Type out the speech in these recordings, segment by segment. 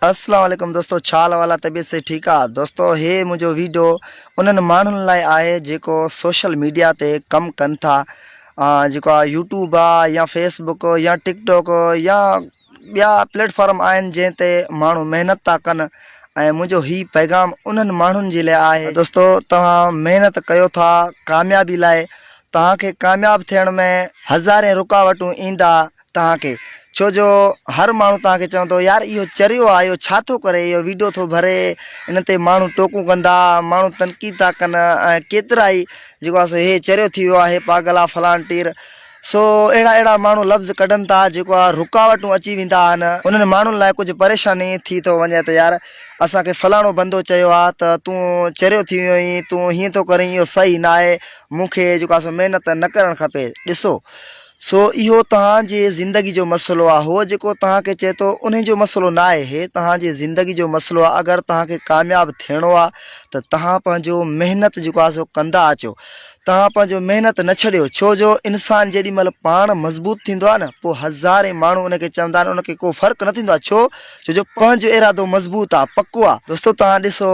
اسلام عليڪم دوستو ڇا حال احوال آ طبيعت صحت ٺيڪ آ دوستو هي منهنجو ويڊيو انهن ماڻهن لاء آهي جيڪو سوشل ميڊيا تي ڪم ڪن ٿا جيڪو آ يوٽيوب آ يا فيس بڪ يا ٽڪ ٽوڪ يا ٻيا پليٽ فارم آهن جنهن تي ماڻهو محنت ٿا ڪن ۽ منهنجو هي پيغام انهن ماڻهن جي لاء آهي دوستو توهان محنت ڪيو ٿا ڪاميابي لاء توهان کي ڪامياب ٿيڻ ۾ هزارين رڪاوٽون ايندا توهان کي ڇو جو هر ماڻهو توهان کي چوندو يار اهو چريو آ اهو ڇا ٿو ڪري اهو ويڊيو ٿو ڀري ان تي ماڻهو ٽوڪون ڪندا ماڻهو تنقيد ٿا ڪن ۽ ڪيترا ئي جيڪو آ سو هي چريو ٿي ويو آ هي پاگل آ فلان ٽير سو اهڙا اهڙا ماڻهو لفظ ڪڍن ٿا جيڪو آ رڪاوٽون اچي ويندا آهن انهن ماڻهن لاء ڪجهه پريشاني ٿي ٿو وڃي ته يار اسان کي فلاڻو بندو چيو آ ته تون چريو ٿي ويو آهين تون هيئن ٿو ڪرين اهو صحيح ناهي مون کي جيڪو آ سو محنت نه ڪرڻ کپي ڏسو سو اهو توهان جي زندگي جو مسئلو آ هو جيڪو توهان کي چئي ٿو انهي جو مسئلو نه آهي هي توهان جي زندگي جو مسئلو آ اگر توهان کي ڪامياب ٿيڻو آ ته توهان پنهنجو محنت جيڪو آ سو ڪندا اچو توهان پنهنجو محنت نه ڇڏيو ڇو جو انسان جيڏي مهل پاڻ مضبوط ٿيندو آ نه پو هزارين ماڻهو ان کي چوندا آهن ان کي ڪو فرق نه ٿيندو آ ڇو ڇو جو پنهنجو ارادو مضبوط آ پڪو آ دوستو توهان ڏسو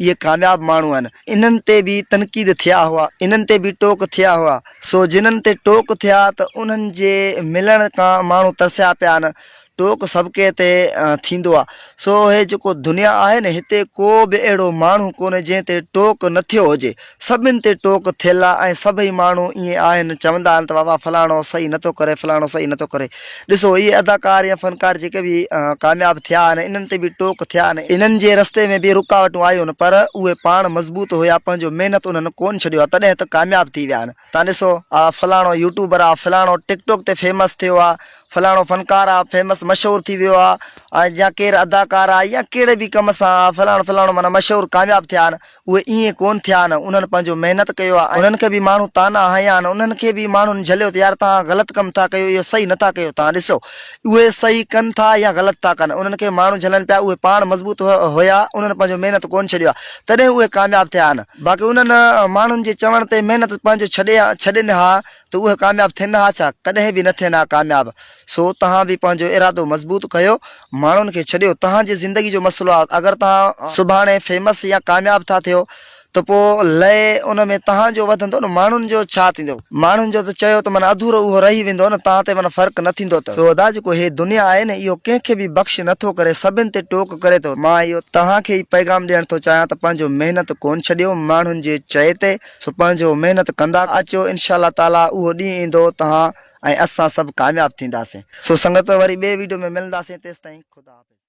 اهي ڪامياب ماڻهو آهن انهن تي به تنقيد ٿيا هئا انهن تي به ٽوڪ ٿيا هئا سو جنهن تي ٽوڪ ٿيا ته انهن جي ملڻ کان ماڻهو ترسيا پيا آهن ٽوڪ سڀ ڪنهن تي ٿيندو آهي سو هي جيڪو دنيا آهي نه هتي ڪو به اهڙو ماڻهو ڪونهي جنهن تي ٽوڪ نه ٿيو هجي سڀني تي ٽوڪ ٿيل آ ۽ سڀئي ماڻهو ائين آهن چوندا آهن ته بابا فلاڻو صحيح نه ٿو ڪري فلاڻو صحيح نه ٿو ڪري ڏسو اهي اداڪار يا فنڪار جيڪي به ڪامياب ٿيا آهن انهن تي به ٽوڪ ٿيا آهن انهن جي رستي ۾ به رڪاوٽون آيون پر اهي پاڻ مضبوط هيا پنهنجو محنت انهن ڪون ڇڏيو آ تڏهن ته ڪامياب ٿي ويا آهن. تان ڏسو آ فلاڻو يوٽيوبر آ فلاڻو ٽڪ ٽوڪ تي فيمس ٿيو آ فلاڻو فنڪار آ فيمس مشھور ٿي ويو آ يا ڪير اداڪار آ يا ڪھڙي به ڪم سان آ فلاڻو فلاڻو معنيٰ مشھور ڪامياب ٿيا آھن اھي ايئن ڪونھ ٿيا آھن انھن پنھنجو محنت ڪيو آ انھن کي به ماڻھو طعنا ھنيا آھن انھن کي به ماڻھن جھليو ته يار تھان غلط ڪم ٿا ڪيو اھو صحيح نٿا ڪيو تان ڏسو اهي صحيح ڪن ٿا يا غلط ٿا ڪن، انهن کي ماڻهو جهلن پيا، اهي پاڻ مضبوط هيا، انهن پنهنجو محنت ڪونه ڇڏيو آهي، تڏهن اهي ڪامياب ٿيا آهن. باقي انهن ماڻهن جي چوڻ تي محنت پنهنجو ڇڏي ڇڏين ها ته اهي ڪامياب ٿين ها ڇا؟ ڪڏهن به نه ٿين ها ڪامياب. سو توهان به پنهنجو ارادو مضبوط ڪيو، ماڻهن کي ڇڏيو، توهان جي زندگي جو مسئلو آهي، اگر توهان سڀاڻي فيمس يا ڪامياب ٿا ٿيو ته پوء لئي ان ۾ تهان جو وڌندو نه ماڻهن جو ڇا ٿيندو؟ ماڻهن جو ته چيو ته من اڌورو اهو رهي ويندو نه تان تي من فرق نه ٿيندو ته. سو ادا جيڪو هي دنيا آهي نه اهو ڪنهن کي به بخش نه ٿو ڪري سڀن تي ٽوڪ ڪري ٿو مان اهو تهان کي ئي پيغام ڏيڻ ٿو چاهيان ته پنهنجو محنت ڪون ڇڏيو ماڻهن جي چئي تي سو پنهنجو محنت ڪندا اچو انشاء الله تعالي اهو ڏينهن ايندو تهان ۽ اسان سڀ ڪامياب ٿينداسين سو سنگت وري ٻئي ويڊيو ۾ ملنداسين تيستائين خدا حافظ.